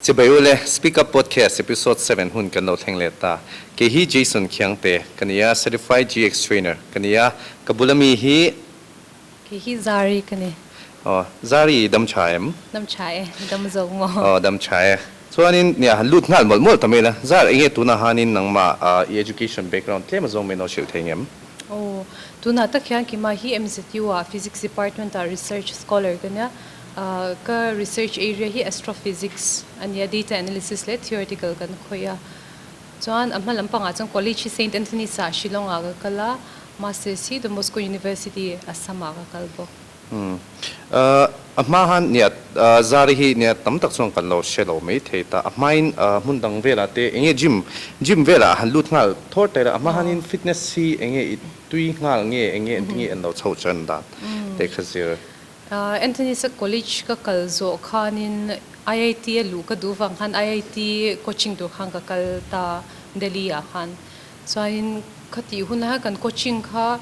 Chibaiule, Speak Up Podcast Episode seven hun kan lo thleng let ta. Kei hi Jason Khiangte ka ni a, Certified GX Trainer ka ni a, ka bul a mi hi. Kei hi Zari ka ni. Aw, Zari i dam tha em? Dam tha e, i dam zo maw? Aw, dam tha e. Chuanin, nia, han lut nghal mawlh mawlh ta mel a, Zar, enge tunah hanin nangmah a i education background tlem a zawng mai no hrilh thei ngem? Aw, tunah tak hian kei mah hi MZU-a Physics Department-a Research Scholar ka nia. Ka research area hi Astrophysics a ni a, Data Analysis leh Theoretical kan khawih a. Chuan a hma lampangah chuan College hi Saint Anthony's a Shillongah ka kal a, Masters hi Don Bosco University Assamah ka kal bawk. A hmahan niat zari hi niat tam tak chuan kan lo hre lo mai thei ta. A hmain hmun dang velah te eng nge gym, gym velah han lut nghal thawr ta ila, a hmahanin fitness hi eng nge i tui nghal nge, eng nge an ti nge an lo chho chuan dan teh kha zir. Anthony Sack College ka kal zawh khanin IIT a luh ka duh vang khan IIT coaching tur khan ka kal ta Delhi ah khan. Chuanin khati hun ah hian kan coaching kha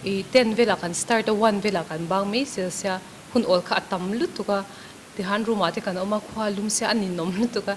i ten velah kan start a, one velah kan bang mai zel sia. Hun awl kha a tam lutuk a, tihan room ah te kan awm a, khua lum se a ninawm lutuk a.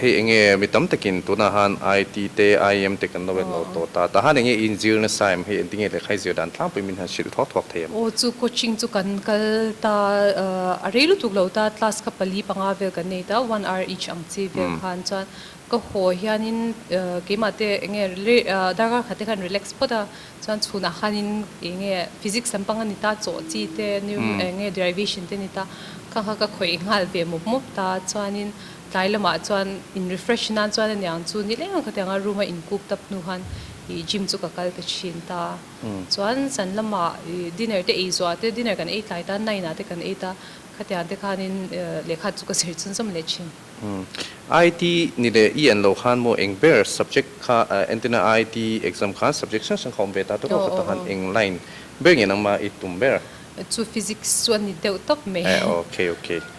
Hei enge mi tam takin tunah han IT te IEM te kan lo en lo tawh ta. Tah han enge in zir nasa em? Hei engtinge lehkhai zir dan tlangpuiin min han hrilh thuak thuak thei em? Aw chu coaching chu kan kal ta a rei lutuk lo ta class ka pali panga vel kan nei ta one hour each ang chi vel khan chuan ka haw hianin keimah te enge darkar kha te khan relax phawt a chuan chhun ah khanin enge physics lampang ani ta chawh chi te enge derivation te ani ta kha kha ka khawih nghal ve mawp mawp ta chuanin Tlai lamah chuan in refresh nan chuan aniang chu ni leng ka ti ang a room a in kuk tap hnu khan ih gym chu ka kal ta thin ta chuan chan lama ih dinner te ei zuah te dinner kan ei tlai ta nine ah te kan ei ta khatiang te khan in lehkha chu ka zir chhun zawm leh thin. IIT ni leh i an lo khan maw eng ber subject kha entirna IIT exam khan subject hrang hrang kha awm ve ta tawh khawp tak khan eng line ber ngen ang mah i tum ber? Chu physics chu a ni deuh tak mai. Aw ok ok.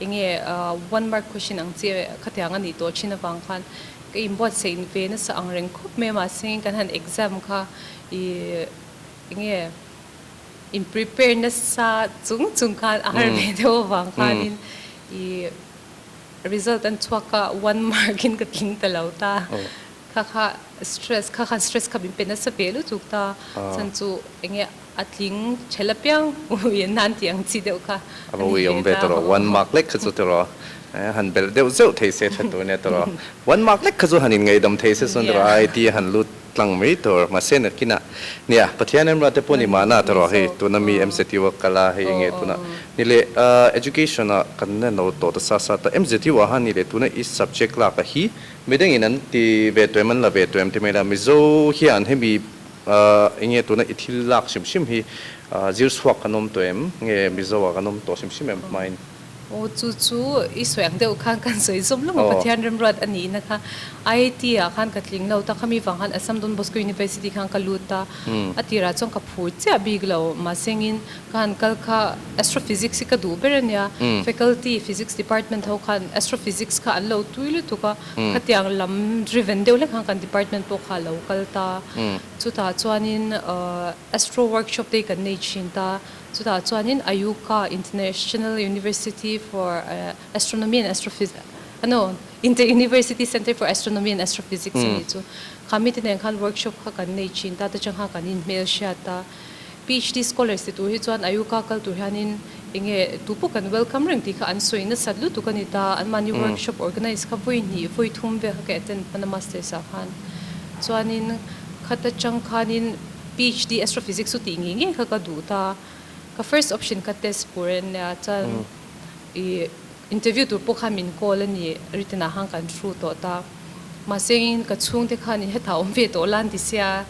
Eng nge one mark question ang che khatiang a nih tawh thin avang khan ka inbuat saih ve nasa ang reng khawp mai a mahse kan han exam kha i eng nge in prepare nasa chung chung khan a har ve deuh avang khanin i result an chhuak kha one mark in ka tling ta lo ta kha kha stress kha khan stress kha min pe nasa ve lutuk ta chuan chu eng nge A tling chhe la piau u i nan tih ang chi deuh kha a ni hle ta. Ava ui awm ve tawh rawh, one mark lek kha chu ti rawh, eh han belh deuh zeuh thei se tha tur nia ti rawh, one mark lek kha chu han inngaidam thei se chuan ti rawh, ai ti a han lut tlang mai tur mahse nakin ah nia Pathian em rate pawh ni mahna ta rawh hei tuna mi mcu a kal a hei enge tuna ni leh ah education a kan la no tawh ta sa sa ta mcu ah han ni leh tuna i subject lak a hi midangin an ti ve tuem an la ve tuem te mai la Mizo hian hemi A, enge tuna i thil lak hrim hrim hi zirchhuak kan awm tawh em? Nge Mizo ah kan awm tawh hrim hrim em hmain? Aw, chu chu i sawi ang deuh khan kan sawi zawm lawm a, Pathian remruat a nihna kha. IIT ah khan ka tling lo, tak ami vang khan Assam Don Bosco University khan ka lut a, a tirah chuan ka phur chiah bik lo. Mahsengin ka han kal kha Astrophysics hi ka duh ber a nia, Faculty Physics Department ho khan Astrophysics kha an lo tui lutuk a. Khatiang lam driven deuh hlek ang kan department pawh kha alo kal ta. Chutah chuanin Astro workshop te kan nei thin ta. Chutah chuanin IUCAA, International University for Astronomy and Astrophysics, no, Inter University Centre for Astronomy and Astrophysics a nih chu. Kha mite nen khan workshop kha kan nei thin ta te chang kha kan inhmelhriat ta. PHD scholars te tur hi chuan Ayuka kal tur hianin eng nge tu pawh kan welcome reng tih kha an sawi nasat lutuk a ni ta, an mahni workshop organise kha vawi hnih vawi thum vel kha ka attend hman a masters ah khan. Chuanin khat atang khanin PHD Astrophysics chu tih ngei ngei kha ka duh ta, ka first option kha test pur en nia chuan i interview tur pawh khan min call a ni written ah khan kan through tawh ta. Mahsengin ka chhungte khan i hetah awm ve tawh lan ti sia.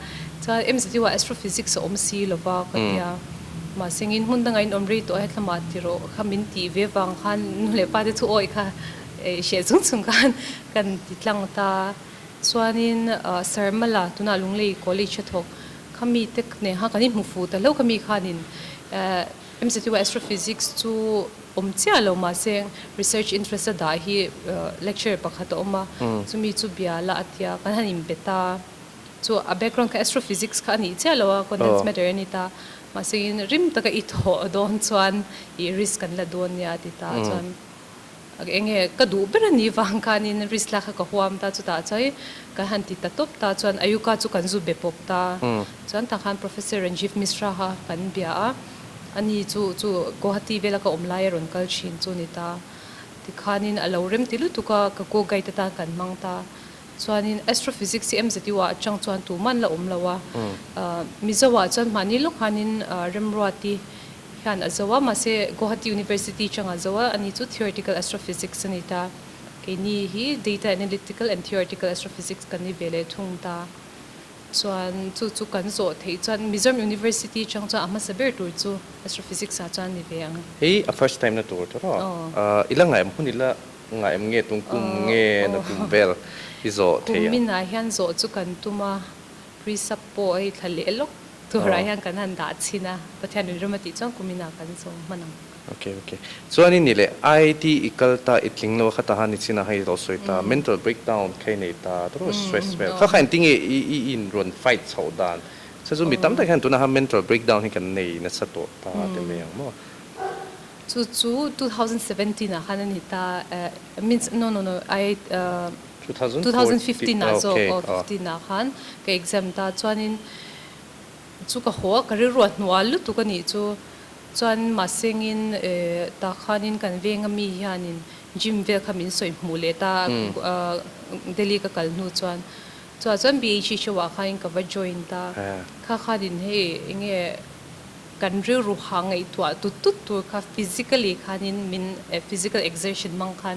Chuan MZ deuh ah Astrophysics a awm si lova ka ti a. Mahsengin hmun dangah in awm rei tawh a hetlamah ti rawh kha min tih ve vang khan nu leh pate thu awi kha ei hriat chung chung khan kan ti tlang ta. Chuanin Sir Mala tunah Lunglei College a thawk kha mite nêngha kan inhmu fu ta hlo kha mi khanin eh. MZUI Astrophysics chu awm chiah lo mah se research interest a dah hi lecturer pakhat a awm a, chumi chu biala a tia kan han inbe ta. Chu a background kha astrophysics kha a nih chiah lo a, condensed matter a ni ta. Mahse in rim taka i thawh dawn chuan i risk kan la dawn nia a ti ta. Chuan Enge ka duh ber a nih vang khanin riskhlak kha ka huam ta, chutah chuan in kan han ti ta tawp ta chuan Ayuka chu kan zu be pawp ta. Chuan ta khan Professor Ranjiv Misra kha kan bia a, ani chu chu Guwahati vela ka awm laia rawn kal thin chu a ni ta. Tikhanin a lo rem ti lutuk a, ka go guide atan kan hmang ta. Chuanin Astrophysics hi MZU ah atang chuan tuman la awm lo a, Mizo ah chuan mahni lawkhanin Remruati, hian a zo a, mahse Guwahati University changah zo a, ani chu Theoretical Astrophysics a ni ta, keini hi Data Analytical and Theoretical Astrophysics kan ni ve leh thung ta chuan chu chu kan zawh theih chuan Mizoram University chang chuan a hmasa ber tur chu Astrophysics ah chuan a ni ve ang. Hei a first time na tur tur a, ahh ila ngaihawm hun ila ngaihawm nge tum kum nge na tum vel i zawh theih ang? Kum minah hian zawh chu kan tum a. Precept pawh hei thla leh lawk turah hian kan han dah chhin a, Pathian rin rama tih chuan kumin ah kan zawm hman ang. Ok ok. Chuan i ni leh IT i kal ta, i tling lo a khata han i chhin a hei zawh sawi ta, mental breakdown kha i nei ta, tawrh stress vel kha kha in tinge i i in rawn fight chhoh dan. Chhe chu mi tam tak hian tunahan mental breakdown hi kan nei nasa tawh ta te mai ang maw. Chu chu two thousand seventeen ah khan a ni ta, eh, means no no no I Two thousand Two thousand fifteen ah zawk aw fifteen ah khan ka exam ta chuanin chu ka haw a ka rilruah hnuah lutuk a nih chu chuan mahsengin tah khanin kan venga mi hianin gym vel kha min sawi hmuh leh ta Delhi ka kal hnu chuan chuah chuan BHE show ah khanin ka va join ta kha khanin hei enge kan rilru hah ngaihtuah tut tut tur kha physically khanin min physical exertion hmang khan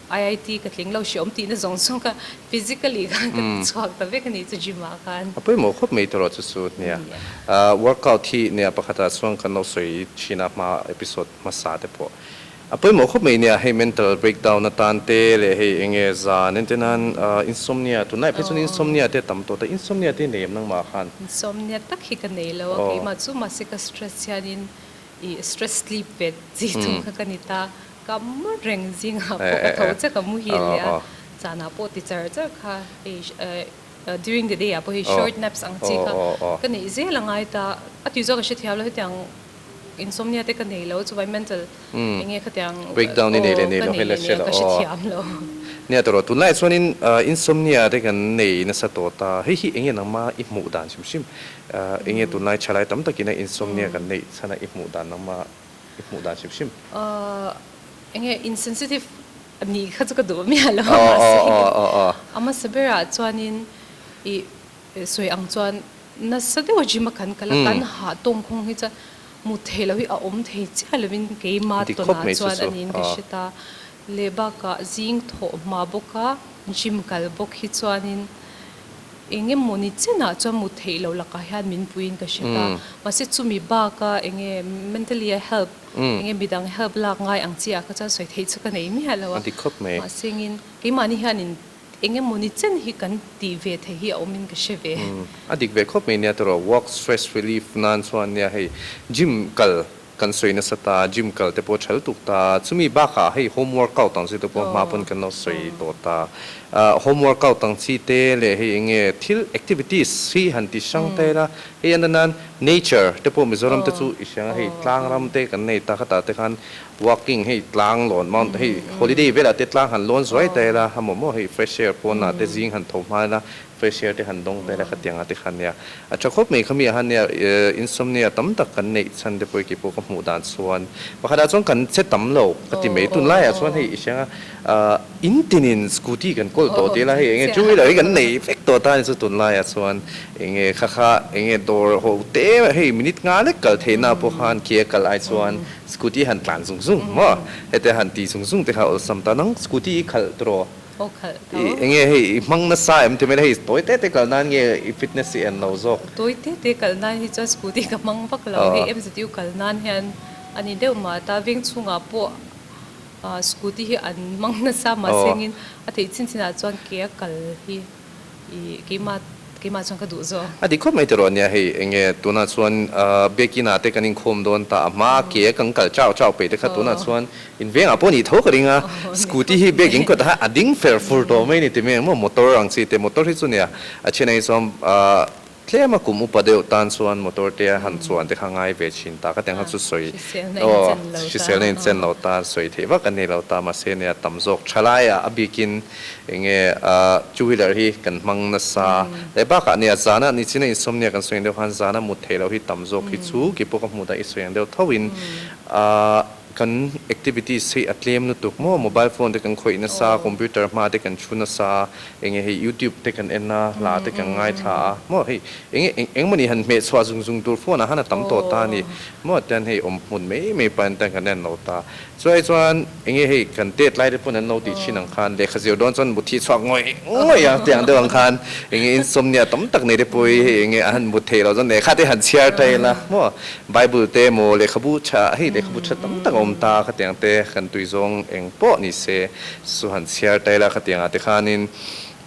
IIT ka tling lo hriawm tihna zawng chuan ka physically khan ka ti chhuak ta vek a ni chu gym ah khan. A pawimawh khawp mai tur a chu chu nia. Workout hi nia pakhat ah chuan kan lo sawi thin a hma episode hmasa te pawh a pawimawh khawp mai nia hei mental breakdown atan te leh hei eng nge zan ente nan insomnia tunlai phei chuan insomnia te tam tawh ta insomnia te nei em nangmah khan. Insomnia tak hi ka nei lo a keimah chu mahse ka stress hian in I stress sleep pet chi chung kha ka ni ta, ka mu reng zingah pawh ka tho che ka mu hil leh a, chanah pawh ti char char kha hei during the day ah pawh hei short naps ang chi kha ka neih zel a ngai ta, a tui chu ka hre thiam lo hetiang insomnia te ka nei lo chuwai mental enge khatiang breakdown i nei leh nei lo ka hre lo nia ta rawh tun lai ah chuan in insomnia te kan nei nasa tawh ta, hei hi enge nangma i hmuh dan hrim hrim I nge tunlai thalai tam tak ina insomnia kan neih chhan a i hmuh dan lam a i hmuh dan hrim hrim. Aww enge insensitive a nih kha chu ka duh miah lo a mahse a hmasa ber ah chuanin i sawi ang chuan nasa deuh a gym a kan kal a kan hah tawng kawng hi chuan hmuh theih lo hi a awm thei chiah lovin keima tawn ah chuan a niin ka hre ta leh bakah zing thawh hma bawka gym kal bawk hi chuanin eng emaw ni chenah chuan mut theih loh lakah hian min puiin ka hre ta. Mahse chumi baka enge mentally a help enge midang help lak ngai ang chiah kha chuan sawi theih chu ka nei miah lo a. Mahsengin keimahni hianin eng emaw ni chen hi kan tih ve thei hi a awmin ka hre ve. A dik ve khawp mai nia tawrh. Work stress relief nan chuan nia hei gym kal Kan sawi nasa ta, gym kal te pawh chhal tuk ta, chumi bakah hei home workout ang chi te pawh hma pawn kan lo sawi tawh ta. Ahh home workout ang chi te leh hei eng nge thil activities hi han ti hrang ta ila, hei a na nan nature te pawh Mizoram te chu i hrang a, hei tlang ram te kan nei ta khatah te khan walking hei tlang lawn mount hei holiday velah te tlang han lawn zuai ta ila, a mawmawh hei fresh air pawnah te zing han tho hma ila, Facial te han dawng vel a kha tiang a ti kha nia. A tha khawp mai kha mi ahan nia insomnia tam tak kan neih chhan te pawh ki pawh ka hmuh dan chuan pakhatah chuan kan che tam lo ka ti mai tun laiah chuan hei i hreng a in tin in scooty kan call tawh tel a hei enge two wheeler hi kan nei vek tawh ta ni chu tun laiah chuan enge kha kha enge dawr ho te hei minute nga lek kal thei na pawh khan khi a kal ai chuan scooty han tlan zung zung maw hete han ti zung zung te kha awlsam ta nang scooty i khalh tur aw. Aw khalh tho. I enge hei i hmang nasa em themel hei tawi te te kal nan nge i fitness i en lo zawk. Tawi te te kal nan hi chuan scooty ka hmang vak lo hei MZU kal nan hian a ni deuh mah ta veng chungah pawh scooty hi an hmang nasa mahse ngin a theih chin chinah chuan kei a kal hi. I keima keima chuan ka duh zawk. A dik khawp mai teh rawh ania hei enge tunah chuan biakina te kan inkhawm dawn ta a hma ke a kan kal chau chau peih te kha tunah chuan in vengah pawh ni tho ka ring a scooty hi bag in kawtah hian a ding fer fur tawh mai ni ti mai ang maw motor ang chi te motor hi chu nia a chhina hi chuan Tlem a kum upa deuh tan chuan motor te a han chuan te kha ngai ve thin ta ka tiang kha chu sawi aw hriselna in chen lo ta sawi theih vak a ni lo ta mahse nia tam zawk tha lai a a bik in enge two wheeler hi kan hmang na sa leh bak ah nia zana nichin a in sawm nia kan sawi ang deuh khan zana mut theih lo hi tam zawk hi chu kipawh ka hmuh dah i sawi ang deuh tho in a Kan activities hi a tlem lutuk maw? Mobile phone te kan khawih nasa a, computer hma te kan thu nasa a, eng nge hei youtube te kan en a, hla te kan ngaithla a maw? Hei eng nge eng eng mawni han hmehchhuah zung zung tur phone ah han a tam tawh ta a ni maw? Tian hei awm hmun mai mai pahin tian kan en lo ta. Chulai chuan eng nge hei kan date lai te pawhin an lo tih thin ang khan lehkha zir dawn chuan mutthi chhuak ngawih ngawih ang tih ang deuh ang khan eng nge insomnia tam tak nei te pawh hi hei eng nge a han mut theih lo chuan lehkha te han chhiar ta ila maw? Bible te emaw lehkhabu tha hei lehkhabu tha tam tak a awm ta kha tiang te kan tui zawng eng pawh ni se chu han chhiar tail a kha tiang ah te khanin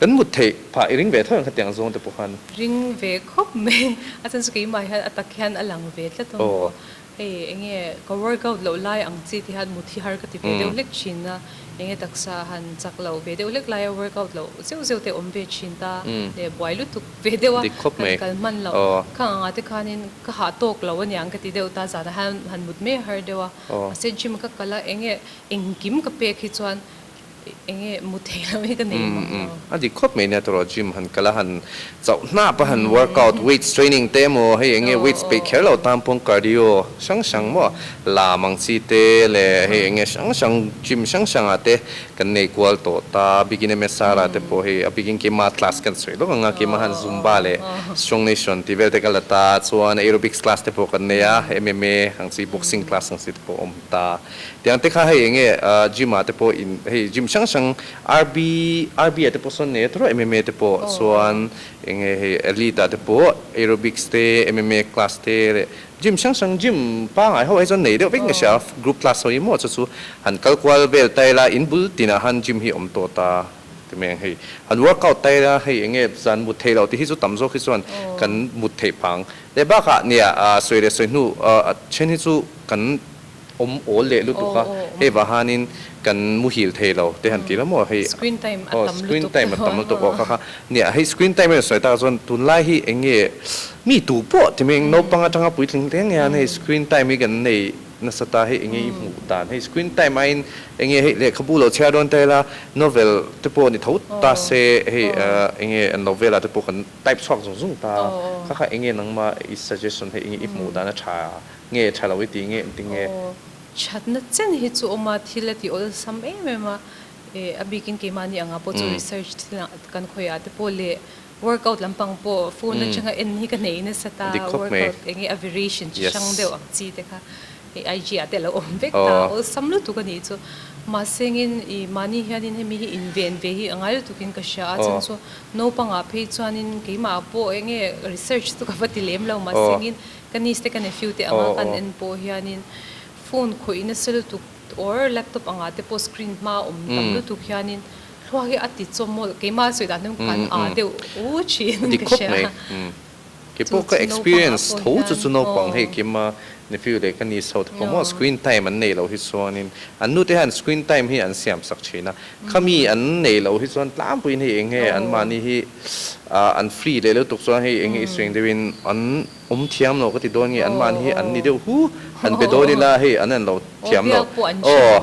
kan mut theih phah i ring ve tho em kha tiang zawng te pawh khan. Ring ve khawp mai a chuan chu keimah hian a tak hian a lang ve tlat a maw hei enge ka work out loh lai ang chi ti hian mut hi har ka ti ve deuh hlek thin a enge taksa han chak loh ve deuh hlek lai a work out loh zeuh zeuh te awm ve thin ta leh buai lutuk ve deuh a, kan kal hman loh. Kha nghangah te khanin ka hah tawk lo a nia an ka ti deuh ta, zanah hian han mut mai a har deuh a. Mahse gym ka kal a, enge engkim ka pek hi chuan enge mu thei loh hi ka nei hmang lo. A dik khawp mai nia tawrh gym han kal a, han chauh hnap a, han workout, weights training te emaw hei enge weights peih kher lo tan pawng cardio hrang hrang maw lam ang chi te leh hei enge hrang hrang gym hrang hrangah te Kan neikual tawh ta, bikin emaw Sarah te pawh hi a bikin kima class kan sawi lawk anga, kima han zumba leh strong nation tih vel te ka la ta, chuan aerobics class te pawh kan nei a, MMA ang chi boxing class ang chi te pawh a awm ta, tiang te kha hei eng nge gym ah te pawh in hei gym hrang hrang RB RB ah te pawh sawn nei a ta rawh MMA te pawh chuan eng nge hei elite ah te pawh aerobics te MMA class te leh Gym hrang hrang gym pangai ho hi chuan nei deuh vek nge sia group class ho emaw chu chu han kal kual vel ta ila in bul tin ah han gym hi awm tawh ta ti mai ang hei han work out ta ila hei enge zan mut theih loh ti hi chu tam zawk hi chuan kan mut theih phang leh bak ah nia sawi leh sawi hnu a then hi chu kan awm awl leh lutuk a hei vah hanin kan muhil thei lo te han ti hlawm maw hei screen time a tam lutuk te pawh a maw kha kha nia hei screen time in a sawi tak ah chuan tun lai hi eng nge mi tu pawh ti mai eng naupang atanga puitling hle nge an hei screen time hi kan nei nasa ta hei eng nge i hmuh dan hei screen time aiin eng nge hei lehkhabu lo chhiar dawn te ila novel te pawh ni tho ta se hei eng nge an novela te pawh kan type chhuak zung zung ta kha kha eng nge nangma i suggestion hei eng nge i hmuh dan a tha Nge tha lo i ti ngeh ang ting e? Aw, thatna chen hi chu awm a, thil a ti awlsam em em a. Eh, a bikin keimahni angah pawh chu research thil ah kan khawih ah te pawh leh workout lampang pawh phone atanga en hi ka nei nasa ta, workout eng nge a variation chi hrang deuh ang chi te kha hei IG ah te a lo awm vek ta, awlsam lutuk a nih chu. Mahsengin i mahni hianin hemi hi inven ve hi a ngai lutukin ka hria a, chhan chu naupangah phei chuanin keimah pawh eng nge research chu ka va ti lem lo mahsengin, Ka niece te ka nephew te anga kan en pawh hianin phone khawihna sel tuk or laptop anga te pawh screen hma awm tam lutuk hianin thlua hi a ti chawmawlh keimah sawi dan hun kan aa deuh u thin ka hria a. Chu chu naupang ah pawh hian aw. Nephew leh ka niece ho te pawh maw screen time an nei loh hi chuanin an nu te hian screen time hi an siam sak thin a. Khami an nei loh hi chuan tlampuiin hei eng nge an mahni hi. Ah an free leh lutuk chuan hei eng nge i suing deuh in an awm thiam lo ka ti dawn nge an mahni hi an ni deuh hu an be dawn ila hei an en lo thiam lo aw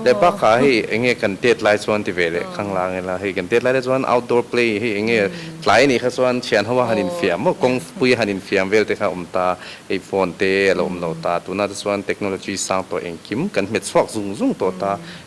leh bakah hei eng nge kan date lai chuan ti ve leh ka la ang ila hei kan date lai te chuan outdoor play hei eng nge tlai ni kha chuan thian ho a han in fiam maw kawng pui a han in fiam vel te kha awm ta hei phone te a lo awm lo ta tuna te chuan technology sang tawh engkim kan hmet chhuak zung zung tawh ta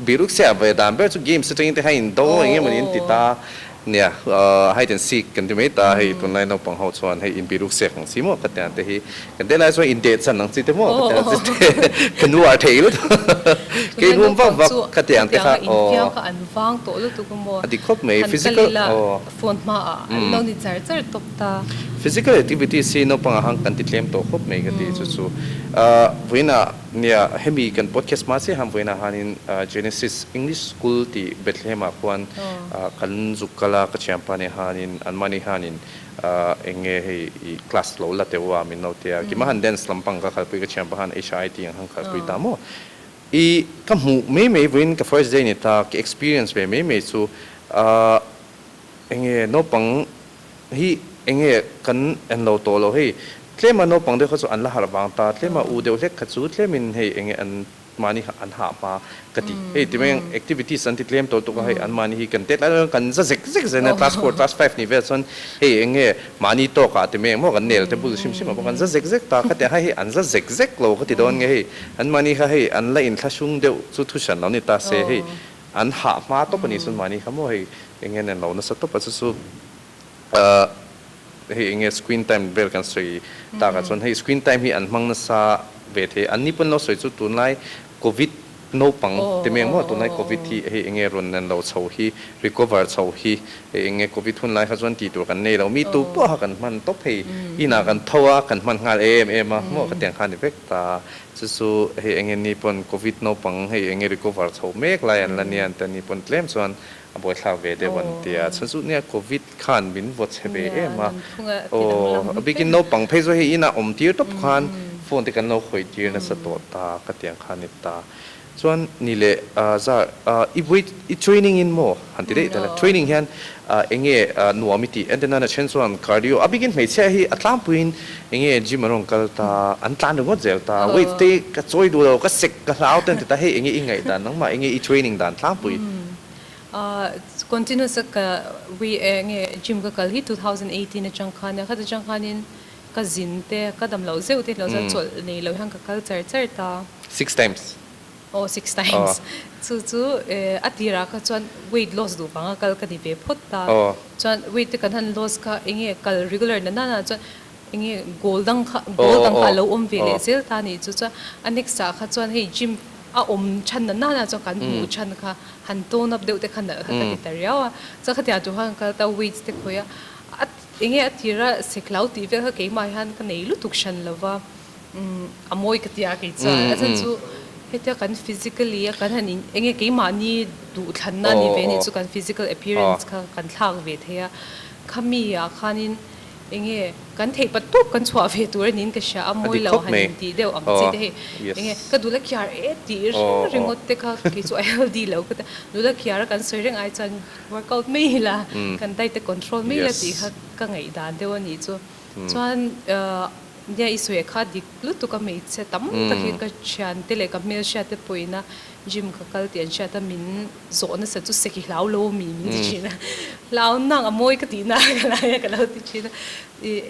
Biruksia a vawi dan ber chu games atangin te hian in do eng emaw ni an ti ta nia, hide and seek kan ti mai ta hei tunlai naupang ho chuan hei in biruksiak ang si maw ka ti ang te hi kan te lai chuan in dehchan ang si te maw ka ti ang si te kan uar thei lutuk ka in hum vak vak ka ti ang te kha aw a ti khawp mai physical physical activities hi naupang ah han kan ti tlem tawh khawp mai ka ti chu chu vawiin ah. Nia, hemi kan podcast hma chiah hamvuain ah hianin Genesis English School tih Bethlehem ah khuan kan zuk kal a, ka thianpa nen hianin an mahni hianin eng nge hei i class lo la teuh a, min lo ti a, kima han dance lampang ka khalpui, ka thianpa hian HIIT ang han khalpui ta maw i ka hmuh mai mai vuain ka first day a ni ta, ka experience ve mai mai chu a eng nge naupang Hi enge kan en lo tawh lo hei, tlema naupang deuh kha chu an la harh vang ta, tlema u deuh hlek kha chu tlemin hei enge an mahni kha an hah hma ka ti. Hei ti mai ang, activities an ti tlem tawh tuk a, hei an mahni hi kan tet lai lalin kan za zek zek zia nen a, class four, class five ni vel chuan hei enge mahni tawk ah ti mai ang maw kan nel te bul hrim hrim ah pawh kan za zek zek ta, khatiang kha hei an za zek zek lo ka ti dawn nge hei an mahni kha hei an la inthlahrung deuh chu thu hran lo ni ta se hei An hah hma tawp a nih chuan mahni kha maw hei eng hian an lo nasa tawp a chu chu ahh hei eng nge screen time vel kan sawi tak ah chuan hei screen time hi an hmang nasa ve thei an ni pawh an lo sawi chu tunlai covid naupang te mai ang maw tunlai covid hi hei eng nge rawn an lo chho hi recover chho hi hei eng nge covid hun lai kha chuan ti tur kan nei lo mi tu pawh kha kan hman tawp hei inah kan tho a kan hman nghal em em a maw ka tiang kha a ni vek. Ta, chu chu hei eng nge ni pawn Covid naupang hei eng nge recover chho mek lai an la nia an ti a, ni pawn tlem chuan a buaithlak ve deuh an ti a, chu chu nia Covid kha an min vaw chhe ve em a, aw a bikin naupang phei chu hei inah awm tir tawp khan phone te kan lo hawi tir nasa tawh ta ka tiang khan ni ta. Chuan ni leh zar i wait i training in maw han ti daih tel a, training hian eng nge nuam i tih entirna a then chuan cardio a bikin hmeichhia hi a tlangpuiin eng nge gym an rawn kal ta an tlan ringawt zel ta wait te ka chawi duh lo ka sek ka hlau ten ti ta hei eng nge i ngaih dan nangmah eng nge i training dan tlangpui continuous ka eng nge gym ka kal hi two thousand eighteen atang khan a khat atang khanin Ka zin te, ka dam loh zeuh te loh chuan chawlh nei loh hian ka kal char char ta. Six times. Aw six times. Chu chu a tirah kha chuan weight loss duh vanga kal ka ni ve phawt ta. Chuan weight te kan han loss kha eng nge kal regular na nana chuan eng nge goal dang kha goal dang kha a lo awm ve leh zel ta ni chu chuan a next ah kha chuan hei gym a awm than na nana chuan kan hmuh than kha han tone up deuh te kha nalh kha ka ti ta riau a. Chuan khatiang tu khan ka kal ta weight te khawih a. Enge a tir a siklo tih vel kha keimah hian ka nei lutuk hran lova umm a mawi ka tia kei chuan a then chu hetia kan physically a kan han in enge keimahni duhthlanna a ni ve nih chu kan physical appearance kha kan thlak ve thei a khami ah khanin enge kan theih pat tawp kan chhuah ve tur a niin ka hria a mawi lo han in tih deuh ang che te hei enge ka dul a kiar e tih ring ringawt te kha kei chu a healthy lo ka tia dul a kiar a kan sawi reng ai chuan Workout mai ila kan diet te control mai ila tih kha ka ngaihdan deuh a nih chu. Chuan nia i suih kha dik lutuk a hmeichhia tam takin ka thian te leh ka hmelhriat te pawhina gym ka kal tih an hriat a, min zawh nasa chu seki hlau lo a mi min ti thin a. Hlau nang a mawi ka tihnaah ka laia ka lo ti thin a.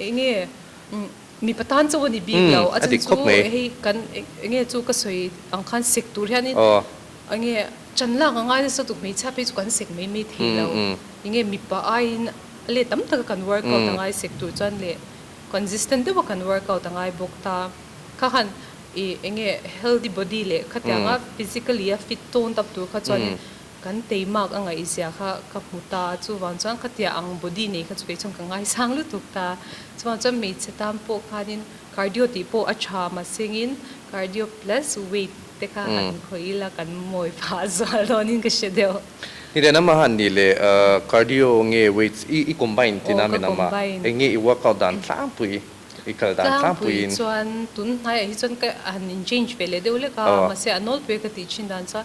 Enge Mipa tan chu a ni bik lo. A chhan chu hei kan enge chu ka sawi ang khan sek tur hian in enge chan lak angai nasa duh hmeichhia phei chu kan sek mai mai thei lo. Enge mipa aiin a let tam taka kan work out angai sek tur chuan leh consistent deuha kan work out angai bawk ta. Kha khan i enge healthy body leh khatianga physically a fit tawn tak tur kha chuan in Kan tei Mark a ngaih zia kha ka hmu ta, chuvang chuan ka tia ang body nei kha chu kei chuan ka ngaisang lutuk ta, chuvang chuan hmeichhe tan pawh khanin cardio tih pawh a tha mahsengin cardio plus weight te kha han khawih ila kan mawi phah zual dawnin ka hre deuh. Ni leh namah han nih leh cardio nge weights i combine tina min awm a, eng nge i workout dan tlangpui i kal dan tlangpui in. Tlangpui chuan tun hnaiah hi chuan ka han in change ve leh deuh lek a, mahse a nawlpui a ka tih chin dan chuan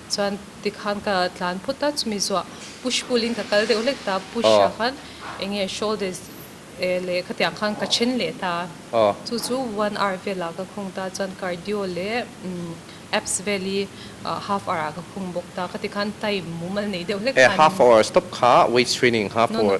Chuan tikhan ka tlan phut a, chumi zawh push pull in ka kal deuh hlek ta, push ah khan enge shoulders leh khatiang khan ka then leh ta, chu chu one hour velah ka khung ta, chuan cardio leh abs vel hi half hour ah ka khung bawk ta, khati khan time mumal nei deuh hlek ta. Half hour stop kha weight training kha pawh.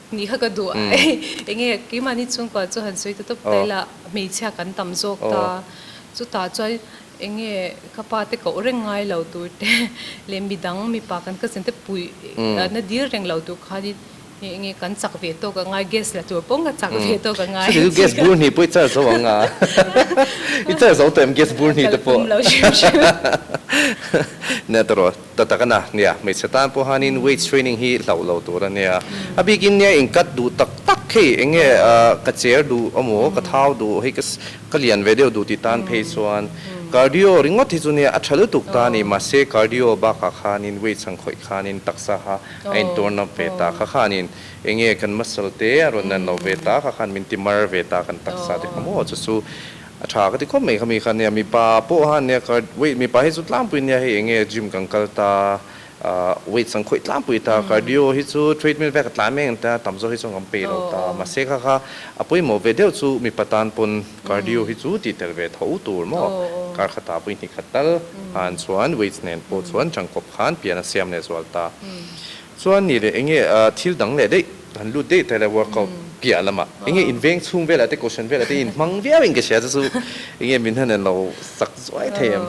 Ni kha ka duh a, ei enge keimahni chhungkua chu han sawi ta tawp ta ila hmeichhia kan tam zawk ta, chutah chuan enge ka pa te koh reng ngai lo tur te leh midang mipa kan cousin te puih na dir reng lo tur khanin hei enge kan chak ve tawk ang a, gas la tur pawnga chak ve tawk ang a. Chhuti chu gas bur hnih pawh i char zo ang a, i char zo tawh em gas bur hnih te pawh? Ka la tum lo hrim hrim. Nia ta rawh. Ta tak a na nia, hmeichhe tan pawh hanin weight training hi hlauh lo tur a nia. A bikin nia in cut duh tak tak hei eng nge ka cher duh emaw ka thau duh hei ka ka lian ve deuh duh tih tan phei chuan cardio ringawt hi chu nia a tha lutuk ta a ni mahse cardio bakah khanin weight chhang khawih khanin taksa ha a in turn up ve ta kha khanin eng nge kan muscle te a rawn nan lo ve ta kha khan min ti mar ve ta kan taksa te kha maw chu chu A tha ka ti khawp mai kha mi kha nia mipa pawh han nia ka weight mipa hi chu tlangpui nia hei enge gym kan kal ta ahh weight sang khawih tlangpui ta cardio hi chu treadmill vek a tlan mai ang ta tam zawk hi chu a ngam pei lo ta mahse kha kha a pawimawh ve deuh chu mipa tan pawn cardio hi chu tih tel ve tho tur maw kar kha ta pui hnih khat tal han chuan weights nen pawh chuan changkawp khan pian a siam leh zual ta chuan ni leh enge thil dang leh daih. Kan lut daih teh le workout piah lamah enge inveng chhung velah te cushion velah te inhmang viau in ka hria chu chu enge min han en lo sak zuai thei em?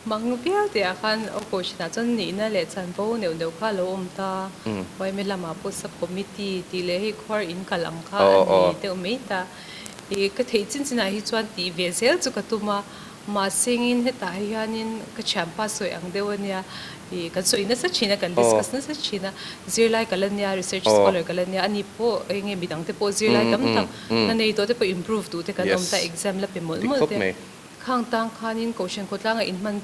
Hmang viau teh ah khan aw coach nah chuan nihna leh chanvo neuh neuh kha alo awm ta, YMA lamah pawh sub committee tih leh hei khuar in kal ang kha an ni deuh mai ta, i ka theih chin chin ah hi chuan tih ve zel chu ka tum a. Mahsengin hetah hianin ka thianpa sawi ang deuh a nia, ih kan sawi nasa thin a, kan discuss nasa thin a, zirlai ka la nia, research scholar ka la nia, a ni pawh eng nge midang te pawh zirlai tam tak na nei tawh te pawh improve duh te kan awm ta, exam la pe mawlh mawlh te. Khang tang khanin kohhran khawtlang a in hman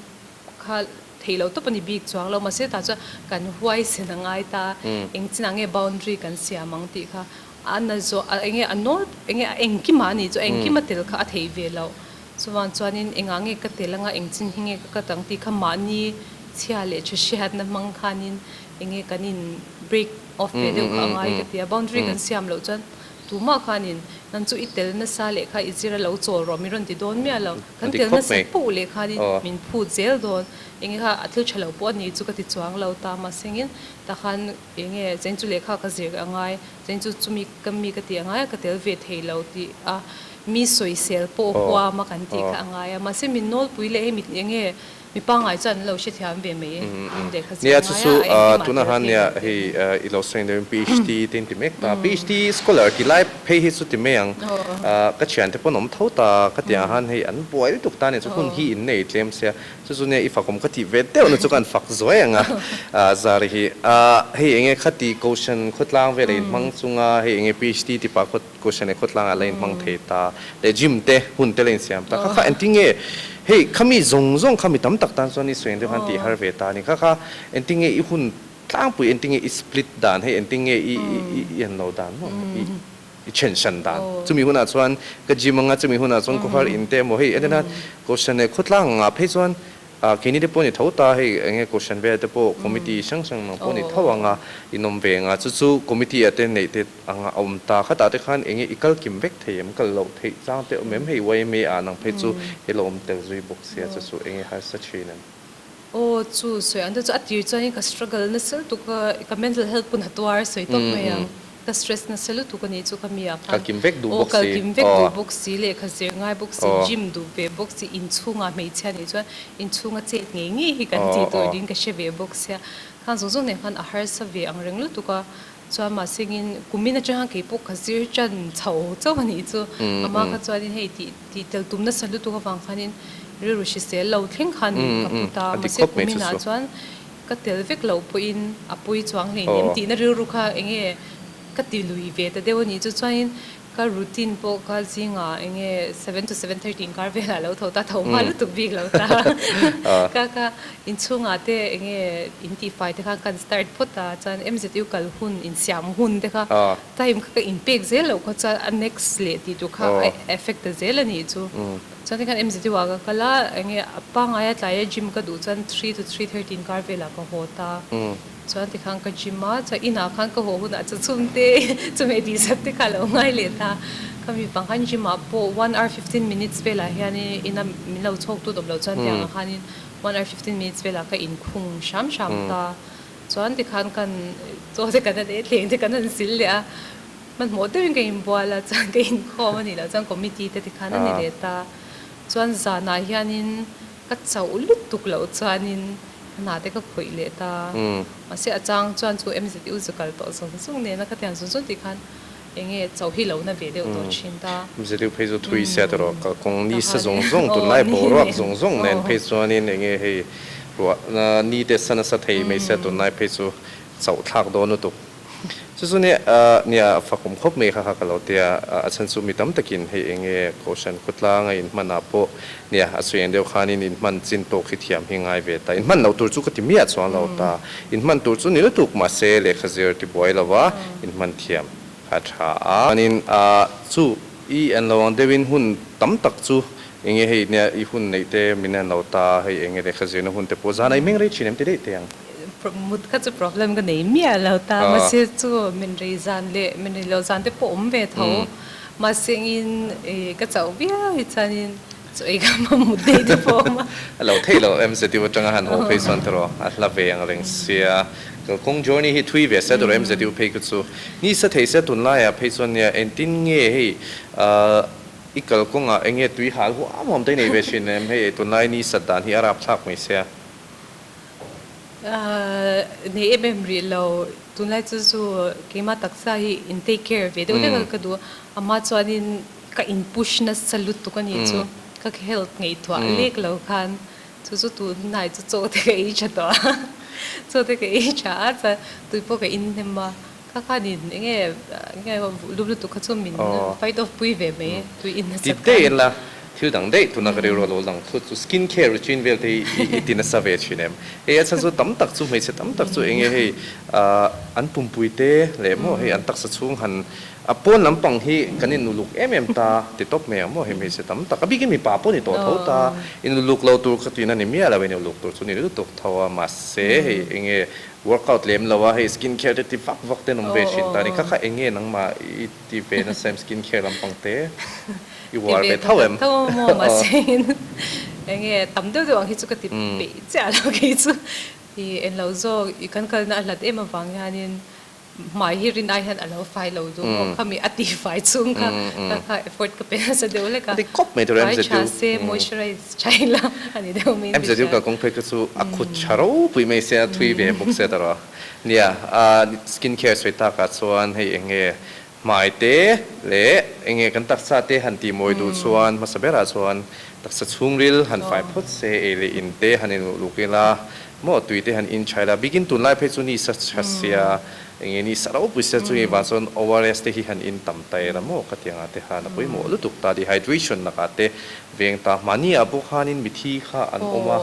kha theih loh tawp a ni bik chuang lo, mahse tah chuan kan huaisen a ngai ta a, eng chinah nge boundary kan siam ang tih kha. A na zawh a enge a nawl enge a engkim a ni chu a engkim a tel kha a thei ve lo chuvang chuanin engah nge ka tel anga eng chin hi nge ka cut ang tih kha mahni chhia leh thu hriatna hmang khanin enge kan in break off ve deuh kha a ngai ka tia boundary kan siam loh chuan tumah khanin nan chu i tel nasa leh kha i zir a lo chawl rawh min rawn ti dawn miah lo kan tel nasa puh leh khanin min phut zel dawn enge kha a thil tha lo pawh a ni chu ka ti chuang lo ta mahsengin takhan Eng nge cheng chu lehkha ka zir a ngai, cheng chu chumi ka mi ka ti a ngai a, ka tel ve thei lo tih a mi sawisel pawh huam a kan tih kha a ngai a. Mahse min nawlpui leh hi mit eng nge mi pangngai chuan an lo hrethiam ve mai e, min lehkha zir a ngai a, a engkim ah tel thei lo teh hi. Aw. Chu chu nia i fak awm ka tih ve deuh na chu ka han fak zuai ang a zari hi a hei eng nge khati Kohhran khawtlang vel a in hmang chung a hei eng nge PHD tipa khaw Kohhran leh khawtlang ah la in hmang thei ta leh gym te hun te la in siam ta kha kha engtin nge hei kha mi zawng zawng kha mi tam tak tan chuan i suiheng deuh han tih har ve ta ni kha kha engtin nge i hun tlangpui engtin nge i split dan hei engtin nge i i i han lo dan maw i I chhen hran dan. Chumi hunah chuan ka gym anga, chumi hunah chuan khawhar in te emaw hei a nen a, kohhran leh khawtlang anga phei chuan keini te pawh ni tho ta hei enge kohhran vel te pawh committee hrang hrang mang pawh ni tho anga in awm ve anga chu chu committee ah te neih te anga a awm ta khatah te khan enge i kal kim vek thei em kal loh theih chang te awm em hei yma ah nang phei chu i lo awm tel zui bawk sia chu chu enge harsa thin em. Aw chu sawi ang te chu a tir chuan in ka struggle na se lutuk a ka mental health pawh na tuar sawi tawp mai ang ka stress na se lutuk a nih chu ka mi ah khan kalkim vek duh bawk si aw kalkim vek duh bawk si leh ka zir ngai bawk si gym duh ve bawk si in chhung ah hmeichhia nih chuan in chhung a chet ngei ngei hi kan tih tur ding ka hre ve bawk sia khang zawng zawng nen khan a harsa ve ang reng lutuk a. Chuan mah sengin kumin atanga keipawh ka zir tan chho chauh a nih chu. Amah kha chuanin hei tih tih tel tum nasa lutuk avang khanin rilru hrisel lo thleng khan min ka put a. Mahse kuminah chuan ka tel vek loh pawhin a pawi chuang hleinem tihna rilru kha enge ka ti lui ve ta deuh a nih chu chuanin. Ka routine pawh ka zingah eng nge seven to seven thirty inkar velah alo tho ta, tho hma lutuk bik lo ta ka ka inchhungah te eng nge intihfai te khan kan start phawt a, chuan MZU kal hun insiam hun te kha time kha ka inpek zel loh kha chuan a next leh tih tur kha a effect ta zel a nih chu. Chuan tikhan MZU ah ka kal a, eng nge a pangngai a tlai a gym ka duh chuan three to three thirty inkar velah ka haw ta. Chuan tikhan ka gym a, chuan inah khan ka haw hunah chuan chum te chumi tihzat te kha alo ngai leh ta. Ka mi pang khan gym ah pawh one hour fifteen minutes velah hianin ina min lo chhawk tu dawp loh chuan tiang ah khanin one hour fifteen minutes velah ka in khung hram hram ta. Chuan tikhan kan chaw te kan han en thleng te kan han sil leh a, hmanhmawh deuhin ka in bual a, chuan ka in khawm a nih loh chuan committee te tikhan a ni leh ta. Chuan zanah hianin Ka chauh lutuk loh chuanin ka hna te ka khawih leh ta. Mahse a chang chuan chu MZU zu kal tawh zawng zawng nena ka tiang zun zun tih khan enge chauh hi lo na ve deuh tawh thin ta. MZU phei chu thui sia ta rawh. Ka kawng ni sa zawng zawng tun lai bo ruak zawng zawng nen phei chuanin enge hei ruah ni te sa nasa thei mai sia tun lai phei chu chauh thlak dawn lutuk. Chu chu nia nia a fak awm khawp mai kha kha ka lo tia a chhan chu mi tam takin hei eng nge kohhran khawtlang a inhman ah pawh nia a sawi ang deuh khan in inhman chin tawk hi thiam hi ngai ve ta inhman lo tur chu ka ti miah chuang lo ta inhman tur chu ni lutuk mahse lehkha zir ti buai lova inhman thiam kha a tha a chuanin a chu i an lo ang deuh in hun tam tak chu eng nge hei nia i hun neih te min an lo ta hei eng nge lehkha zirna hun te pawh zan a inhmeng rei thin em ti daih teh ang. Mut kha chu problem ka nei miah lo ta, mahse chu min rei zan leh min rei loh zan te pawh awm ve tho. Mahse in ka chauh viau hi chuan in chu ei kha mam mut daih te pawh a awm a. A lo theih lo em ztiu atanga han haw phei chuan tawrh a hla ve ang reng sia. Kalkawng journey hi thui ve sia tawrh em ztiu phei ka chu. Ni sa thei sia tun laiah phei chuan nia engtin nge hei i kalkawng ah enge tui hal huam huam te nei ve thin em? Hei ei tunlai ni sat dan hi a rap thlak mai sia. Ahh nei em em rih lo tunlai chu chu keima taksa hi in take care ve deuh deuh a ka duh ama chuanin ka in push nasa lutuk a nih chu ka help ngaihtuah lek lo khan chu chu tunlai chu chaw te ka ei tha tawh a chaw te ka ei tha a chuan tui pawh ka inhnem a. Kha khan in eng nge nge lup lutuk kha chu min fight off pui ve mai e, tui in nasa khan. Ti daih la, thil dang daih tuna ka rilru alo lang thut chu skin care routine vel te hi i ti nasa ve thin em? Hei a chhan chu tam tak chu hmeichhe tam tak chu eng nge hei an pumpui te leh maw hei an taksa chhung han a pawn lampang hi kan in nu luk em em ta ti tawp mai ang maw hei hmeichhe tam tak a bikin mipa pawh ni tawh tho ta i nu luk lo tur kha tui in a ni miah lo i nu luk tur chu ni lutuk tho a mahse hei eng nge Workout lem lo a hei skin care te ti vak vak ten awm ve thin ta ni kha kha enge nangmah i ti ve nasa em skin care lampang te i uar ve tho em? Ti ve tho tho maw mahse in enge tam deuh deuh ang hi chu ka ti peih chiah lo kei chu i englo zawk i kan kalna a hlat em avang hian in Hmai hi Rinai hian a lo fai lo duh maw khami a tih fai chung kha ka kha effort ka pe nasa deuh hlek a. Fai tha se moisturize tha ila a ni deuh mai ni sia. Umm. Hmai te leh eng nge kan taksa te han tih mawi duh chuan hmasa berah chuan taksa chhungril han fai phawt se ei leh in te han in luhluk ngil a, maw tui te han in chhai la bikin tunlai phei chu nisa chha sia eng nge nisa ropui sia chungi vang chuan ORS te hi han in tam ta ela maw khatiang ah te han a pawimawh lutuk ta dehydration lakah te veng ta mahni ah pawh khan in mithi kha an awm a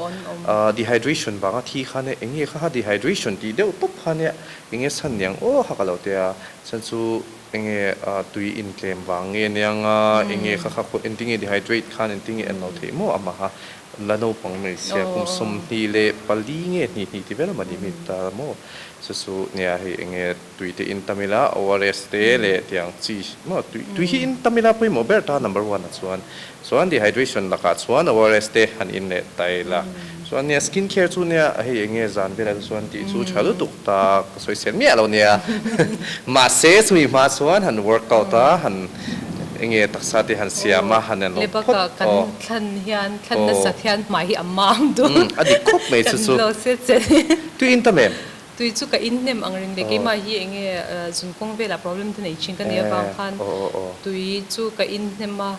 ah dehydration vang a thi khan e eng nge kha ha dehydration tih deuh tawp khan e eng nge san niang aw hak a lo tia Chhan chu enge tui in tlem vang nge niang a, enge kha kha pawh engti nge dehydrate khan engti nge an lo theih maw a maha la naupang hmeichhia kum sawmhni leh pali nge hnih hnih ti vel a mahni mi ta la maw chu chu nia hei enge tui te in tam ila ORS te leh tiang chi maw tui tui hi in tam ila pawimawh ber ta number one ah chuan Chuan dehydration lakah chuan ORS te han in leh ta ila. Chuan nia skin care chu nia a hei enge zan ber a te chuan tih chu tha lutuk ta ka sawi sel miah lo nia. Mahse chumi hma chuan han workout a han enge taksa te han siam a han en lo phawt aw. Kan thlan hian thlan nasat hian hmai hi a mang dul. A dik khawp mai chu chu. Kan lo se che. Tui in tam em? Tui chu ka inhnem ang ring le keimah hi eng nge zun kawng velah problem te nei thin ka nei avang khan tui chu ka inhnem a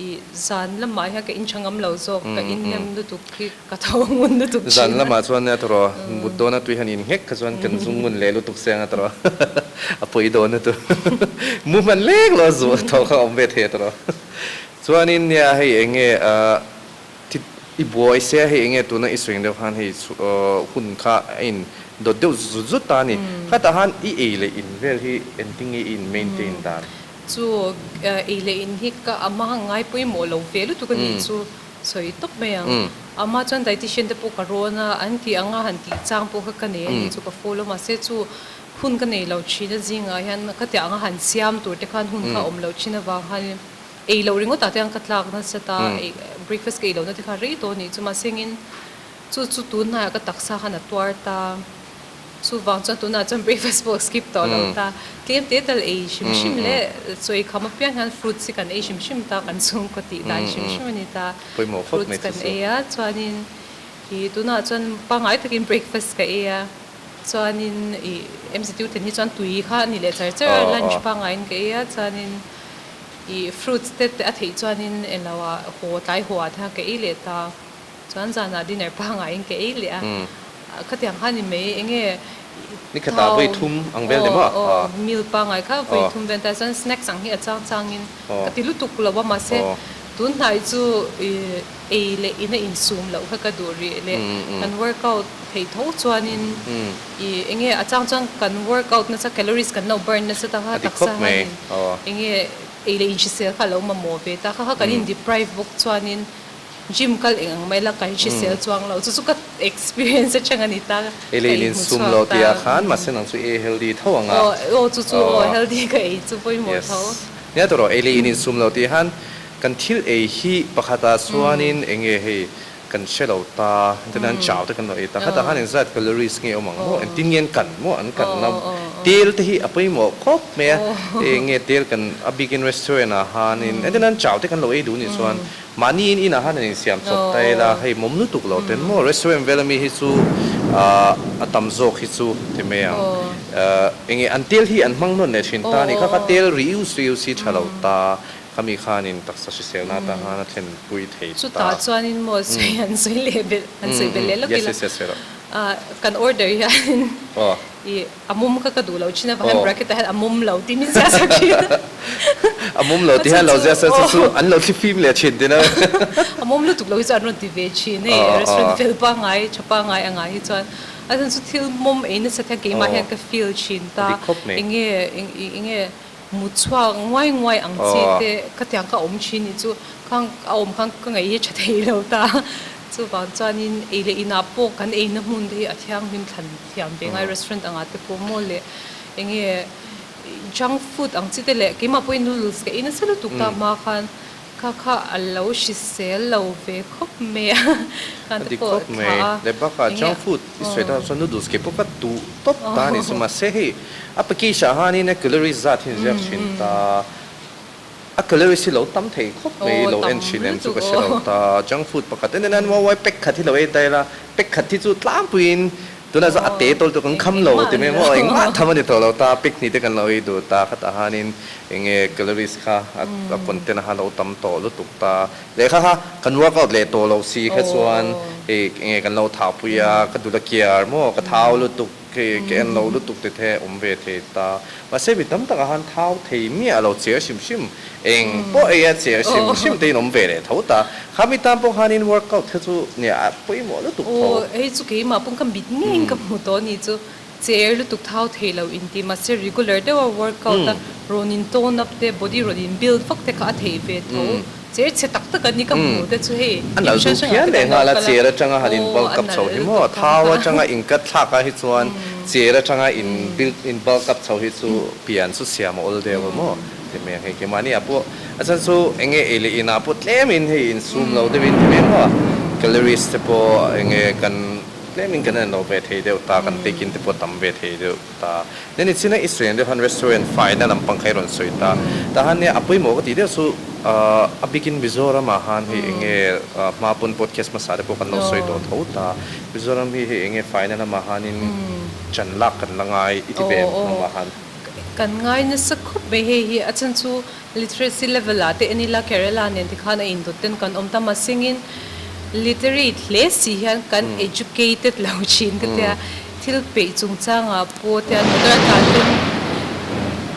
i zan lamah hian ka inṭha ngam lo zawk ka inhnem lutuk hi ka tho ngun lutuk thin a. Zan lamah chuan nia ta rawh mut dawn a tui hian in nghek kha chuan kan zung ngun leh lutuk se anga ta rawh a pawi dawn a tu mu hman lek lo a zuh tho kha awm ve thei a ta rawh chuanin nia hei eng nge. Thit, i buai se a hei enge tuna i suing deuh khan hei hun kha a in dawt deuh zut zut zut ta a ni. Khata han i ei leh in vel hi engtin nge i in maintain in dan? Chu ei leh in hi ka ama ngai pawimawh lo ve lutuk a nih chu sawi tawp mai ang. Ama chuan dietician te pawh ka rawn a, an tih anga han tih chang pawh kha ka nei a nih chu ka follow mahse chu hun ka nei lo thin a zingah hian ka tiah anga han siam tur te khan hun kha awm lo thin avang khan in, Ei loh ringawtah te an ka tlak nasa ta, ei breakfast ka ei lohna te kha rei tawh a nih chu mahsengin chu chu tun hnaiah ka taksa khan a tuar ta, chuvang chuan tunah chuan breakfast pawh skip tawh lo ta, tlem te tal ei hrim hrim leh chawi kham apiang hian fruits hi kan ei hrim hrim ta, kan chhungkaw tih dan hrim hrim a ni ta, fruits kan ei a, chuanin i tunah chuan pangngai takin breakfast ka ei a, chuanin i MZU ten hi chuan tui kha a nih leh char char a, lunch pangngaiin ka ei a, chuanin I fruits te a theih chuanin englo a haw tlai haw ah te kha ka ei leh ta. Chuan zanah dinner pangngahin ka ei leh a. Khatiang khan i mei eng nge thau aw aw meal pangngai kha vawi thum vel ta chuan snacks ang hi a chang changin ka ti lutuk lo a mahse tunhnai chu i. Ei leh ina insum loh kha ka duh rih le, kan workout theih tho chuanin i enge a chang chuan kan workout nasa calories kan lo burn nasa ta kha taksa hianin enge ei leh inhrisel kha alo mamawh ve ta kha kha kan in deprive bawk chuanin gym kal eng ang mai la kan hrisel chuang lo chu chu ka experience atang a ni ta ka ei leh in sum lo tih ah khan mahse nang chu e healthy tho ang a aw chu chu aw healthy ka ei chu pawimawh tho. Yes nia tur aw ei leh in insum lo tih ah khan. Kan thil ei hi pakhata chuanin eng nge hei kan hre lo ta, chuan an chau te kan lo ei ta, hetah khan engzat calories nge awm ang maw, engtin nge an kan maw, an kan na tel te hi a pawimawh khawp mai a, hei eng nge tel kan a bikin restaurant ah hanin engtin an chau te kan lo ei duh nih chuan mahniin inah han an insiam chawp ta ila hei mawm lutuk lo ten maw restaurant vel ami hi chu a tam zawk hi chu ti mai ang eng nge an tel hi an hmang nawn leh thin ta ni kha kha tel rius rius hi tha lo ta. Khami khanin taksa hrisel na ta hana thlen pui thei ta. Chutah chuanin maw sawi an sawi leh belh an sawi belh leh lawk ila. Yes yes yes ero. Kan order hianin i a mum kha ka duh lo thin a vang hian bracket ah hian a mum lo tih min ziah sa thin a. A mum lo tih hian lo ziah sa chu chu an lo thli fim leh thin thin a. A mum lutuk lo hi chuan an rawn ti ve thin hei restaurant fel pangai tha pangai angah hi chuan a then chu thil mum ei nasa kha keimah hian ka feel thin ta eng nge eng nge. Mut chhuak nguai nguai ang chi te ka tiang ka awm thin ni chu khang a awm khang ka ngaih hi tha thei lo ta chuvang chuan in ei leh in ah pawh kan eina hmun te hi a thianghlim thlan thiam ve ngai restaurant ang ah te pawh maw leh enge junk food ang chi te leh keimah pawhin noodles ka ei nasa lutuk ta hma khan Kha kha a lo hrisel lo ve khawp mai a, kha te pawh a thlah a, eng nge a oh. I sawi deuh chuan noodles ke pawh ka duh tawp ta a ni chu mahse hei a package ah hianin a calories zat hi an ziak thin ta a, a calories hi lo tam thei khawp mai i lo en thin em chu ka hre lo ta a, junk food pakhat en en a, an uaua pack khat hi lo en ta ila pack khat hi chu tlampuiin. Tunah chuan a te tawltu kan kham lo ti mai maw? Engmah tham a ni tawh lo ta, pic hnih te kan lo ei duh ta khatah hianin enge calories kha a content a kha a lo tam tawh lutuk ta. Leh kha kha kan workout leh tawh lo si kha chuan hei enge kan lo thahpui a, ka dul a kiar maw, ka thau lutuk, ka en lo lutuk tithe awm ve thei ta. Mahse mi tam takah han thau thei miah a lo che a hrim hrim. Eng pawh ei a che a hrim hrim te in awm ve leh tho ta. Kha mi tan pawng khan in workout te chu nia a pawimawh lutuk tho. Aw hei chu keimah pawng ka mit ngeiin ka hmu tawh a nih chu. Che er lutuk thau thei lo in tih mahse regular deuha workout a rawn in tone up te body rawn in build vak te kha a theih ve tho. Chair chhe tak taka ni ka hmuh te chu hei A nalh duh hian leh nghal a chair atanga han in bal kap chho hi maw? Thau atanga in cut thlak a hi chuan chair atanga in build in bal kap chho hi chu pian chu siam a awl deuh a maw? Ti mai ang hei. Kemahni ah pawh a chhan chu enge ei leh in ah pawh tlem in hei in sum lo deuh in ti mai ang maw? Calories te pawh enge kan tlem in kan en lo ve thei deuh ta, kan taking te pawh tam ve thei deuh. ta. Nen ni chin a i sawi ang deuh han restaurant fai na lam pangkhei rawn sawi ta. Ta han nia a pawih maw ka tih deuh chu aah a bikin Mizoram ah han hei enge aah hma pawn podcast hmasa te pawh kan lo sawi tawh tho ta. Mizoram hi hei enge fai na lam ah han in chan lak kan la ngai i ti ve ang hnung ah han. Kan ngai nasa khawp mai hei hi a chhan chu Literacy level ah te en ila Kerala nen te khan a indawt ten kan awm ta masingin literate hle si hian kan educated lo thin ka tia thil peih chung changah pawh te an motor a tlan ten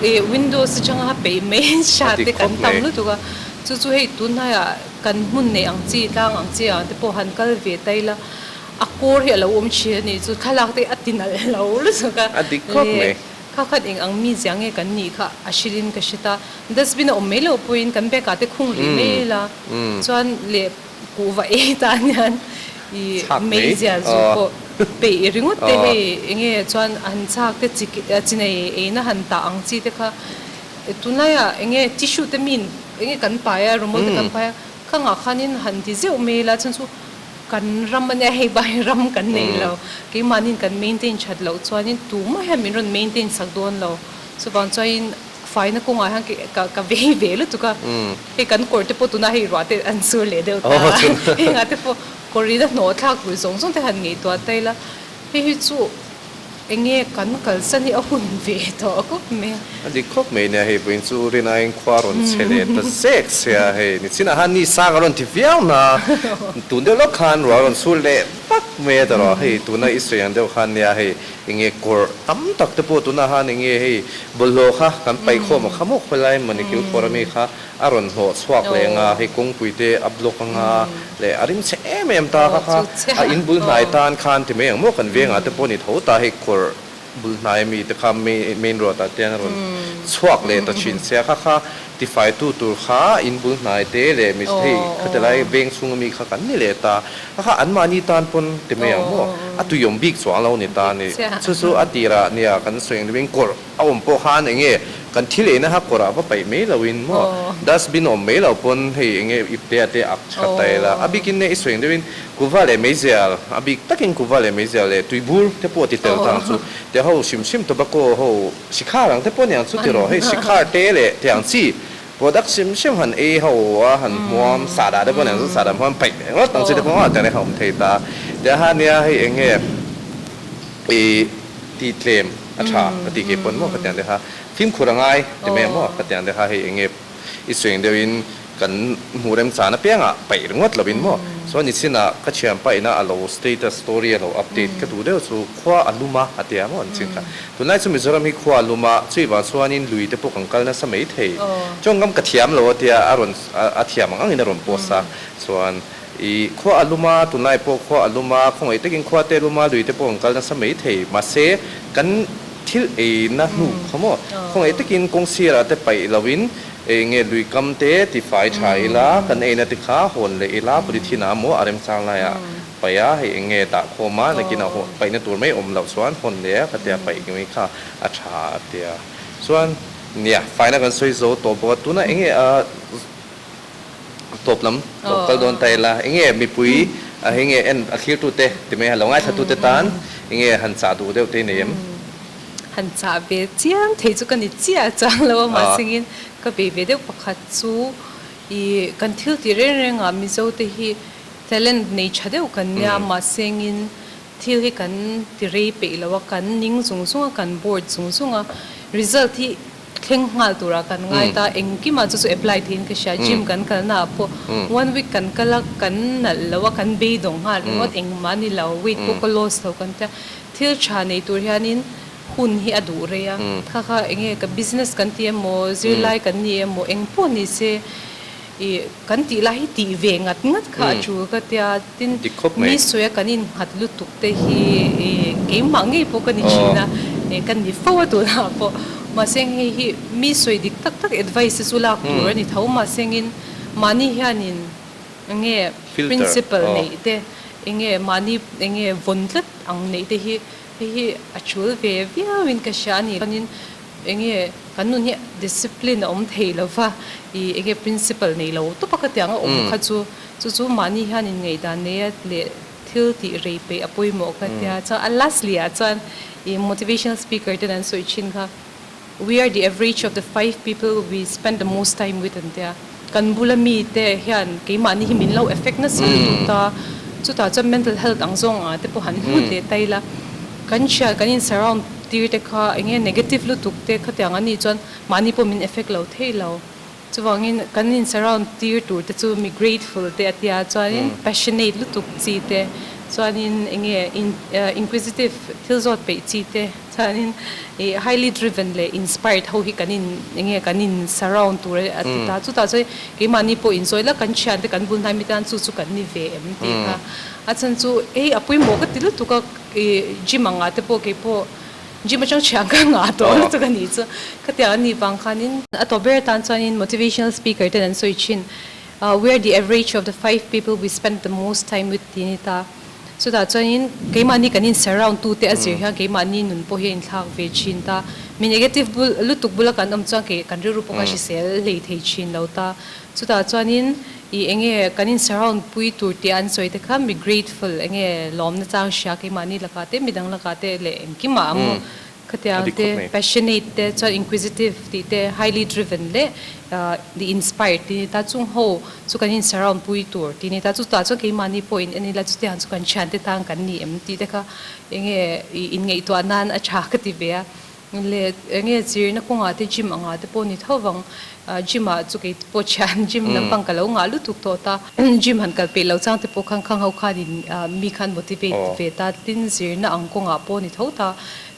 eh windows atanga peih mai sa te kan tam lutuk a chu chu hei tunhnai ah kan hmun nei ang chi tlang ang chi ang te pawh han kal ve ta ila a kawr hi a lo awm thin a nih chu thlalak te a ti nalh lo lutuk a leh. Kha khat eng ang mi zia nge kan nih kha a hrilhin ka hre ta. Dustbin a awm mai loh pawhin kan bag ah te khung rih mai ila chuan leh kuh va ei ta anian i mei zia zu pawh peih ringawt te hei eng nge chuan a han chak te chi chi nei eina han tah ang chi te kha tunlai ah eng nge tissue te miin eng nge kan pai a rumawl te kan pai a kha ngah khan in han ti zeuh mai ila chuan chu Kan ram ania hei bai ram kan nei lo. Keimahnin kan maintain that loh chuanin tumah hian min rawn maintain sak dawn lo. Chuvang chuanin faina kawngah hian ka ka vei ve lutuk a. Hei kan kawrte pawh tunah hei ruahte an sur leh deuh ta a. Hengah te pawh kawr ina hnawhthlak ruih zawng zawng te han ngaihtuah ta ila, hei hi chu. Enge kan kalsa ni a hun ve tawh khawp mai a. A dik khawp mai nia hei puiin chu Rinaiin khua rawn chhe len ta zek se a hei ni chin ahan ni sang a rawn ti viau hna tun deuh lawk khan rual a rawn sur leh vak mai a tawrh a hei tuna Israel ang deuh khan nia hei enge kawr tam tak te pawh tuna ahan enge hei bawlhhlawh kha kan paih khawm a khamawk khawp lai mawni kilkhawra mi kha A rawn hnawh chhuak leng a, hei kawngpui te a block anga leh a rim chhe em em ta kha kha, a in bul hnai tan khan ti mai ang maw kan vengah te pawh ni tho ta hei kawr bul hnai ami te kha main road ah te an rawn chhuak leh ta thin se a kha kha, tifai tu tur kha in bul hnai te leh mi hei kha te lai veng chhung ami kha kan ni leh ta kha kha an mahni tan pawn ti mai ang maw a tuiawm bik chuang lo ni ta ni chu chu a tirah nia kan sawi ang deuh in kawr A awm pawh khan eng nge kan thil eina ha kawrah va paih mai lo in maw dustbin a awm mai lo pawn hei eng nge ip te a te ak tha ta i la a bik in e i suaing deuh in kuva leh meizial a bik tak in kuva leh meizial leh tui bur te pawh a ti tel tang chu te ho hrim hrim tobacco ho sikhar ang te pawh niang chu ti rawh hei sikhar te leh tiang chi Product sim sim han ei ho a, han hmuam sa dah te pawh nen zut sa dah hmuan paih ve ngawt ang, chute pawh a awm thei ta. Tia han nia hei eng nge i ti tlem a tha ka ti kei pawn maw ka tiang te kha, fimkhur a ngai ti mai maw ka tiang te kha hei eng nge i suing deuh in kan hmuh rem chan apiang ah paih ringawt lo in maw. Saw nichin ah ka thiam paih in a a lo status story a lo update ka duh deuh chu khua a lum a a tia maw nichin kha. Tunlai chu Mizoram hi khua lum a, chui vang chuanin lui te pawh kan kal nasa mai thei. Chawngkam ka thiam lo a tia a rawn a thiam ang angin a rawn post a. Chuan i khua a lum a, tunlai pawh khua a lum a, khawngaih takin khua te lum a, lui te pawh kan kal nasa mai thei. Mahse kan thil eina hnu kha maw? Khawngaih takin kawng sirah te paih loin eng nge lui kam te tifai tha ila kan eina te kha hawn leh ila puli thinah a maw a remchang lai a. Paia hei eng nge dah khawm a, nakinah hawn paihna tur mai awm loh chuan hawn leh a, ka ti a, paih nui kha a tha a ti a. Chuan nia fine a kan sawi zo tawh bawk a, tuna eng nge a tawp lam tawp kal dawn ta ila, eng nge mipui a hei nge en a thlirtu te ti mai han lo ngaithla te tan eng nge han chah duh deuh te i nei em? Han chah ve chiang thei chu ka ni chiah a chang lo a, mahsengin ka bei ve deuh pakhat chu i kan thil tih reng rengah Mizo te hi, Talent nei tha deuh kan nia mahse engin thil hi kan ti rei peih lo a, kan ning zung zung a, kan board zung zung a, result hi thleng nghal turah kan ngai ta, engkim ah chu chu apply theih in ka hria, gym kan kal na ah pawh one week kan kal a, kan nalh lo a, kan beidawng nghal ringawt, engmah ni lo weight pawh ka loss lo kan tia, thil tha nei tur hian in hun hi a duh rei a, kha kha eng nge ka business kan ti emaw, zirlai kan ni emaw eng pawh ni se, I kan tih lai hi tih ve ngat ngat kha a tul ka tia tin ni sawiah kan in nghat lutuk te hi i keimah ngei pawh ka ni thin a e kan ni fo a tunah pawh mahse hei hi mi sawi dik tak tak advice te chu lak tur a ni tho mahse ngin mahni hian in enge principle neih te enge mahni enge vawn tlat ang neih te hi Hei hi a tul ve viauin ka hria a nih chuanin eng nge kan nun hi discipline a awm thei lo va i eng nge principle nei lo tawp a ka tiang a awm kha chu chu chu mahni hian in ngaihdan nei a leh thil tih rei peih a pawimawh ka tia chuan a lastly ah chuan i motivational speaker ten an sawi thin kha. We are the average of the five people we spend the most time with an ti a. Kan bula mi te hian keimahni hi min lo effect nasa lut a, chutah chuan mental health ang zawng ah te pawh han hmu hle ta ila. Kan hria kan in surround tir te kha eng nge negative lutuk te khatiang an nih chuan mahni pawh min effect lo thei lo. Chuvangin kan in surround tir tur te chu mi grateful te a tia chuanin passionate lutuk chi te chuanin eng nge inquisitive thil zawt peih chi te chuanin i highly driven leh inspired ho hi kan in eng nge kan in surround tur a ti ta. Chutah chuan keimahni pawh in zawih la kan thian te kan bul hnai mi te an chu chu kan ni ve em tih kha a chhan chu hei a pawimawh ka ti lutuk a i gym ang ah te pawh kei pawh Gym atang thian ka ngah tawh lutuk a nih chu ka tiang anih vang khanin. A tawp ber atan chuanin motivational speaker ten an sawi thin we are the average of the five people we spend the most time with tiin i ta a. Chutah chuanin keimahni kan in surround tu te a zir hian keimahni nun pawh hi a in thlak ve thin ta. Mi negative lutuk bula kan awm chuan kei kan rilru pawh kha hrisel hlei thei thin lo ta. Chutah chuanin i enge kan insurround pui tur tia an sawi te kha mi grateful enge lawmna chang hria keimahni lakah te midang lakah te leh engkimah a maw khatiang te passionate te chuan inquisitive tih te highly driven leh the inspired tih ni ta chung ho chu kan insurround pui tur tih ni ta chutah chuan keimahni pawh in en ila chutiang chu kan thiante tan kan ni em tih te kha enge i inngaihtuah nan a tha ka ti ve a. Le eng nge chirna khaw ngah te gym a ngah te pawh ni tho vang. Gym ah chu kei te pawh thian gym lampang ka lo ngah lutuk tawh ta. Gym han kal peih lo chang te pawh khan khang ho khan in mi khan motivate ve ta. Tin zirna ang kawng ah pawh ni tho ta.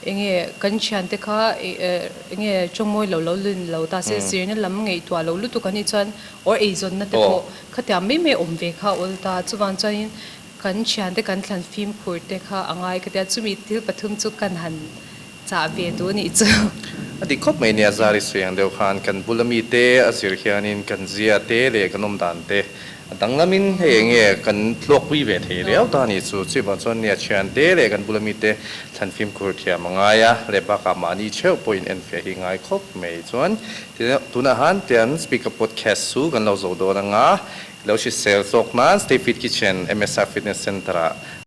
Eng nge kan thian te kha eng nge tawngmawi lo lo lun lo ta se zirna lam ngaihtuah lo lutuk a nih chuan or eizawnna te pawh khatiang mai mai awm ve kha awl ta. Chuvang chuan in. Kan thian te kan thlan fimkhur te kha a ngai ka tia chumi thil pathum chu kan han chah ve duh a nih chu. A dik khawp mai nia zari suiang deuh khan kan bula mi te a zir hian in kan zia te leh kan awm dan te a danglam in hei eng nge kan tluak pui ve thei riau ta a nih chu. Chuvang chuan nia thian te leh kan bula mi te thlan fimkhur thiam a ngai a leh bakah mahni theuh pawh in enfiah hi ngai khawp mai chuan Tunah han tian Speaker Podcast chu kan lo zoh dawn anga, i lo hrisel tawk nan Stayfit Kitchen MSR Fitness Centre-ah